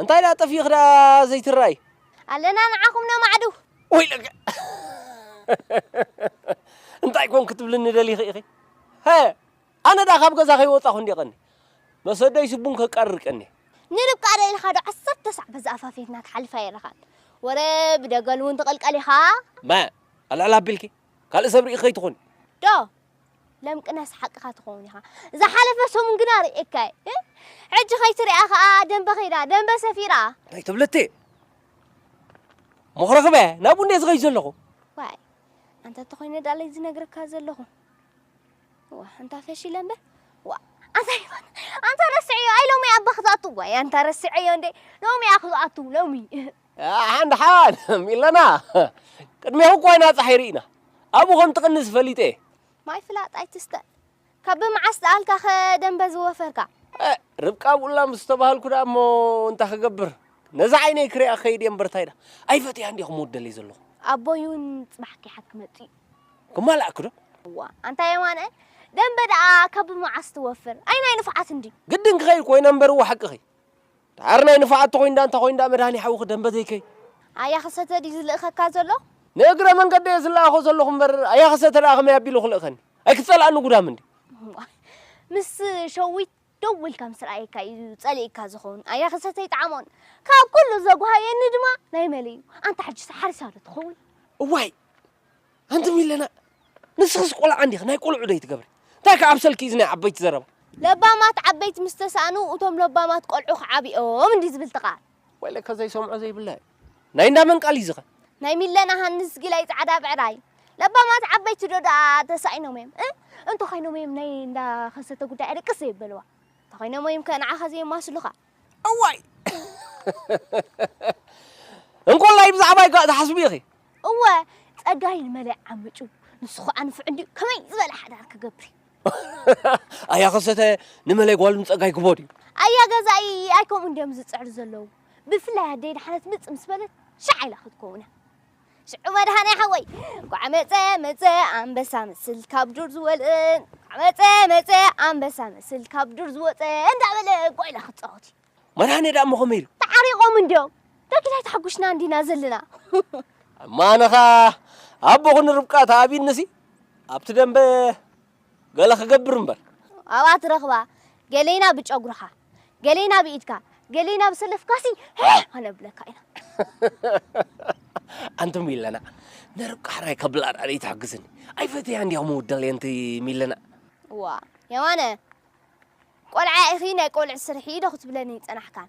እንታይ ደኣ ጠፊእኺ ደኣ ዘይትረኣይ። ኣለና ንዓኹም ነማዕድው። ወይለከ እንታይ ኮን ክትብልኒ ደሊኺ ኢኺ? ሀ ኣነ ደኣ ካብ ገዛ ከይወጻኹ እንድየ ቀንየ። መሰደይሲ ቡን ከቃርር ቀንየ። ንርብቃ ዶ ኢልካ ዶ ዓሰርተ ሳዕ በዚ ኣፋፌትና ትሓልፍ ኣይረኻን። ወረ ብደገል እውን ትቕልቀል ኢኻ። መ ኣልዕል ኣቢልኪ ካልእ ሰብ ርኢኺ ከይትኾኒ። ዶ ለምቅናስ ሓቅኻ ትኸውን ኢኻ ዝሓለፈ ሰሙን ግና ርእየካ እየ ሕጂ ከይትሪኣ ከዓ ደንበ ከይዳ ደንበ ሰፊራ እንታይ ትብልቲ ምኽርኽበ ናብ ቡንዴ ዝኸይ ዘለኹ ዋይ ኣንተ ተኾይነ ዳለይ ዝነግረካ ዘለኹ ዋ ኣንታ ፈሺለ እምበር ዋ ኣንታ ይፋን ኣንታ ረስዐዮ ኣይ ሎሚ ኣባ ክዝኣቱ ዋይ ኣንታ ረስዐዮ እንዴ ሎሚ እያ ክዝኣቱ ሎሚ ሓን ሓን ኢለና ቅድሜኹ እኳ ኢና ጸሓይ ርኢና ኣብኡ ከም ትቕንስ ፈሊጠ እየ። ማይ ፍላጥ ኣይትስተ ካብ ብምዓስ ዝኣልካኸ ደምበ ዝወፈርካ። ርብቃ ኣብኡላ ምስ ተባሃልኩ ደኣ እሞ እንታይ ክገብር ነዛ ዓይነይ ክሪኣ ክኸይድ እየ እምበር እንታይ ደኣ ኣይፈትያን ድየ ክምወደለይ ዘለኹ። ኣቦይ እውን ጽባሕ ኪሓት ክመጽእ እዩ። ክማላእኪ ዶ? እዋ ኣንታ የማነ ደምበ ደኣ ካብ ብምዓስ ትወፍር። ኣይ ናይ ንፉዓት እንድዩ። ግድን ክኸይድ ኮይነ እምበር እወ ሓቅኺ ዳሓር ናይ ንፋዓት ተኮይንዳ እንታ ኮይንዳ መድሃኔ ሓውኺ ደምበ ዘይከይ። ኣያኸሰተ ድዩ ዝልእኸካ ዘሎ? ንእግረ መንገደይ እየ ዝለኣኾ ዘለኹ እምበር ኣያኸሰተ ደኣ ከመይ ኣቢሉ ክልእኸኒ? ኣይክትጸልኣኒ ጉዳም እንድዩ። እዋይ ምስ ሸዊት ደው ኢልካ ምስ ረኣየካ እዩ ጸሊእካ ዝኸውን ኣያኸሰተ ኣይጠዓሞን ካብ ኩሉ ዘጉሃየኒ ድማ ናይ መለይ እዩ ኣንታ ሕጂስ ሓሪሳ ዶ ትኸውን? እዋይ ኣንቲ ሚለና ንስኽስ ቆልዓ እንዲኺ ናይ ቆልዑ ዶ ይትገብሪ እንታይ ከ ኣብ ሰልኪ እዚ ናይ ዓበይቲ ዘረባ። ለባማት ዓበይቲ ምስ ተሳእኑ እቶም ለባማት ቆልዑ ክዓብዮም እንድዩ ዝብል እቲ ቃል። ወይ ለካ ዘይሰምዖ ዘይብላ እዩ ናይ እንዳ መን ቃል እዩ እዚ ከ። ናይ ሚለና ሃንስ ጊላይ ጻዕዳ ብዕራይ። ለባማት ዓበይቲ ዶ ደኣ ተሳኢኖም እዮም እ እንተኾይኖም እዮም ናይ እንዳ ከሰተ ጉዳይ ኣደቅስ ዘይበልዋ እንተኾይኖም እዮም ከ ንዓኻ ዘየማስሉኻ። እዋይ እንኮላይ ብዛዕባይ ከ ትሓስቢ ኢኺ። እወ ጸጋይ ንመለይ ዓምጩ ንሱ ኸኣ ንፉዕ እንድዩ ከመይ ዝበለ ሓዳር ክገብር ኣያ ከሰተ ንመለይ ጓል ንጸጋይ ክቦ ድዩ ኣያ ገዛኢ ኣይ ከምኡ እንድዮም ዝጽዕሩ ዘለዉ ብፍላይ ኣደይ ድሓነት ምጽ ምስ በለት ሻዕ ኢላ ክትከውነ ሽዑ መድሃኔ ሓወይ እንኳዕ መፀ መፀ ኣንበሳ መስል ካብ ዱር ዝወልእ እንኳዕ መፀ መፀ ኣንበሳ መስል ካብ ዱር ዝወፀ እንዳበለ ጓይላ ክፃወት እዩ መድሃኔ ደኣ እሞ ከመይ ኢሉ ተዓሪቆም እንድዮም ዳግድ ኣይተሓጉሽና እንዲና ዘለና እማ ኣነኻ ኣቦኹን ርብቃ ተኣቢንሲ ኣብቲ ደንበ ገለ ክገብር እምበር። ኣብኣ ትረኽባ ገሌና ብጨጉርኻ ገሌና ብኢድካ ገሌና ብሰለፍካሲ ሄህ ከነብለካ ኢና። ኣንቲ ሚለና ንርብቃ ሕራይ ከብላ ድኣ ደይትሕግዝኒ ኣይፈትያን ድያ ምውዳል የንቲ ሚለና። እዋ የማነ ቆልዓ ኢኺ ናይ ቆልዑ ስርሒ ዶ ክትብለኒ ጸናሕካን።